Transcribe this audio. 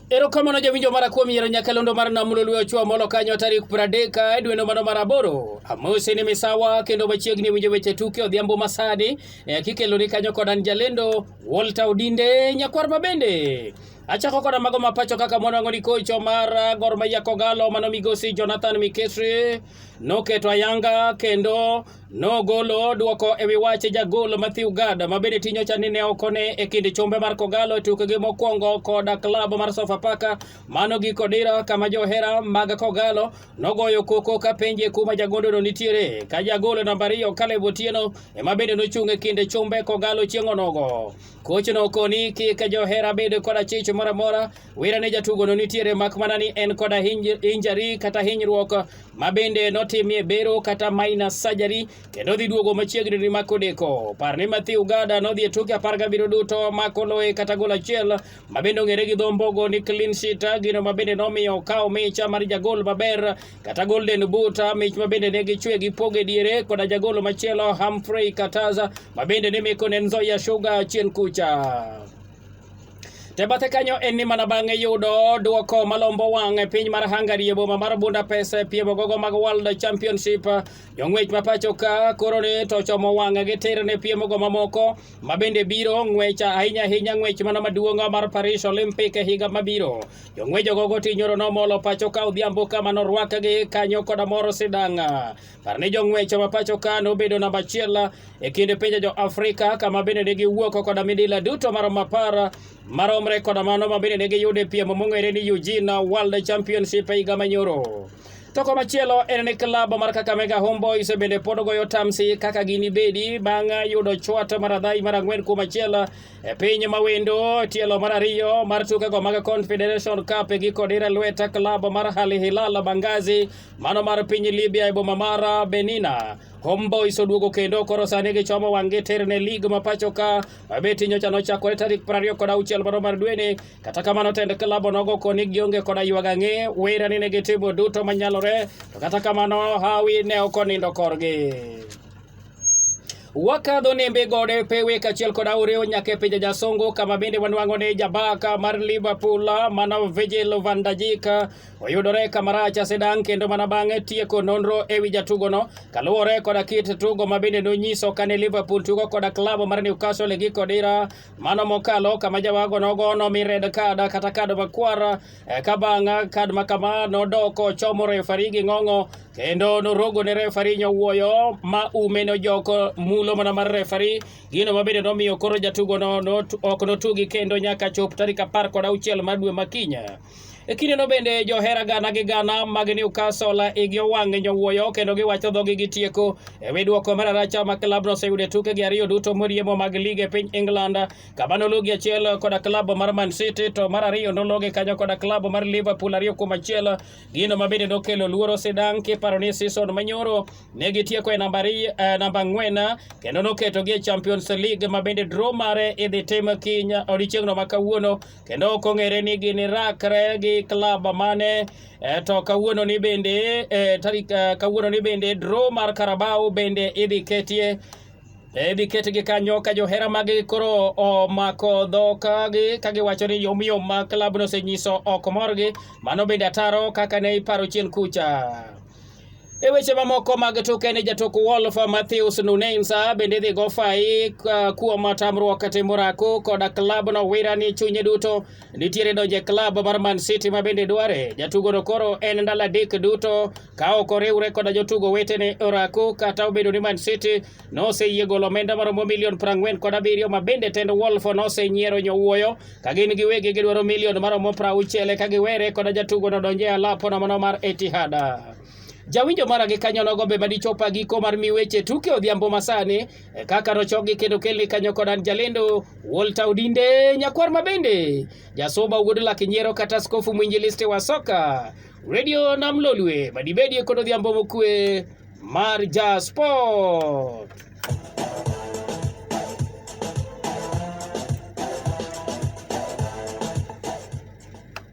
Erokamano jawinjo mara kuom yiero nyakalondo mar nam Lolwe Ochwa Molo kanyo tarik pradek e dweno mano mar aboro. Amosi ni misawa kendo machiegni winjo weche tuke odhiambo masani e kikeloni kanyo kod an jalendo Walter Odinde nyakwar ma bende achako koda mago mapacho kaka mwanwang'o ni kocho mar Gor Mahia Kogalo mano migosi Jonathan Mikesri noketo ayanga kendo Nogolo dwoko e wi wach jagol Mathew Gad ma bende tinyo cha ni ne ok one e kind chumbe mar Kogalo e tukgi mokwongo kod klab mar Sofapaka mano giko dira kama johera mag Kogalo nogoyo koko ka penje kuma jagondono nitiere ka jagol namba ariyo Caleb Otieno ema bende nochung' e kind chumbe Kogalo chieng' onogo. Kochno koni kik johera bed kod achich moro amora wira ne jatugono nitiere mak mana ni en koda injari kata hinyruok ma bende notimie bero kata minor surgery kendo dhi duogo machiegni ni mako deko. Par ni Matthew Gada nodhi e tuke apar gabiriyo duto mako loye kata gol achiel ma bende ong'ere gi dho mbogo ni clean sheet, gino ma bende nomiyo okawo micha mar jagol maber kata golden boot, mich ma bende ne gichwe gi poge diere koda jagol machielo Humphrey Kataza ma bende ne meko ne Nzoia Sugar chien kucha. Te bathe kanyo en ni mana bang'e yudo duoko malombo wang' e piny mar Hungary e boma mar Budapest e piem gogo mag World Championship. Jong'wech ma pacho ka koro ni to chomo wang' gi tir ne piem go mamoko ma bende biro ng'wech ahinya ahinya ng'wech mana maduong' mar Paris Olympic e higa mabiro. Jong'wech gogo tinyoro nomolo pacho ka odhiambo ka mano rwakgi kanyo koda moro sidang'. Par ni jong'wech ma pacho ka nobedo namba achiel e kind pinje jo Afrika kama bende ne giwuok koda midila duto marom apar maromre koda mano ma bende ne giyudo e piem mong'ere ni Eugene World Championship e higa manyoro. To komachielo en ni klab mar Kakamega Homeboys bende pod goyo tamsi kaka ginibedi bang' yudo chwat mar adhai mar ang'wen kuom achiel e piny mawendo tielo mar ariyo mar tukego mag Confederation Cup e giko dire lweta klab mar Al Hilal Bangazi Mano mar piny Libya e boma mara Benina. Homeboys oduogo kendo koro sani gichomo wang'gi tir ne lig ma pacho ka mabeti nyocha nochakore tarik prariyo kod auchiel mano mar dweni. Kata kamano tend klab onogo koni gionge koda ywag ang'e wera ni ne gitimo duto manyalore to kata kamano hawi ne ok onindo korgi. wakadho nembe gode pewe kachiel kod aoreo nyaka e pinje jasongo kama bende wanwang'o ni jabaka mar liverpool mano vigil vandajika oyudore kamarach asedang' kendo mana bang'e tieko nonro e wi jatugono kaluwore koda kit tugo ma bende nonyiso kane Liverpool tugo koda klab mar Newcastle e giko dira mano mokalo kama jawago nogo nomi red card kata kad makwar e, ka bang' kad ma kama nodok ochomo refari gi ng'ong'o kendo norogo ne refari nyowuoyo ma ume nojoko mulo mana mar refari gino ma bende nomiyo koro jatugono ok notugi kendo nyaka chop tarik apar kod auchiel mar dwe ma kinya E kindeno bende johera gana gi gana mag Newcastle igi owang' e nyowuoyo kendo giwacho dhogi gi tieko e wi dwoko mar aracha ma klabno oseyudo e tukegi ariyo duto moriemo mag lig e piny England kama nologi achiel koda klab mar Man City to mar ariyo nologi kanyo koda klab mar Liverpool ariyo kuom achiel gino ma bende nokelo luoro sidang' kiparo ni season manyoro ne gitieko e namba eh, namba ang'wen kendo noketogi e Champions League ma bende draw mare idhi tim kiny odiechieng'no ma kawuono kendo ok ong'ere ni gini rakre gi klab mane e, to kawuono ni bende e, tarik e, kawuono ni bende draw mar Carabao bende idhi ketie idhi ketgi kanyo ka johera magi koro omako dhok ka giwacho ni yomyom ma klabno osenyiso ok morgi mano bende ataro kaka ne iparo chien kucha E weche mamoko mag tuke ni jatuk Wolf Matheus Nunes bende dhi go fai kuom tamruok timo rako koda klabno wira ni chunye duto nitiere donje klab mar Man City ma bende dware. Jatugono koro en ndalo adek duto ka ok oriwre koda jotugo wetene orako kata obedo ni Man City noseyie golo omenda maromo milion prang'wen kod abiriyo ma bende tend Wolf nosenyiero nyowuoyo ka gin giwegi gidwaro milion maromo prauchiel ka giwere kod jatugo no donje alapo nomono mar Etihad. Jawinjo mara gi kanyo nogo be madichop giko mar mi weche tuke odhiambo masani e kaka nochokgi kendo kelni kanyo kod an jalendo Walter Odinde nyakwar ma bende jasoba wuod lak nyiero kata askofu mwinjilisti wa soka Radio Nam Lolwe madibedie kod odhiambo mokue Marja Sport.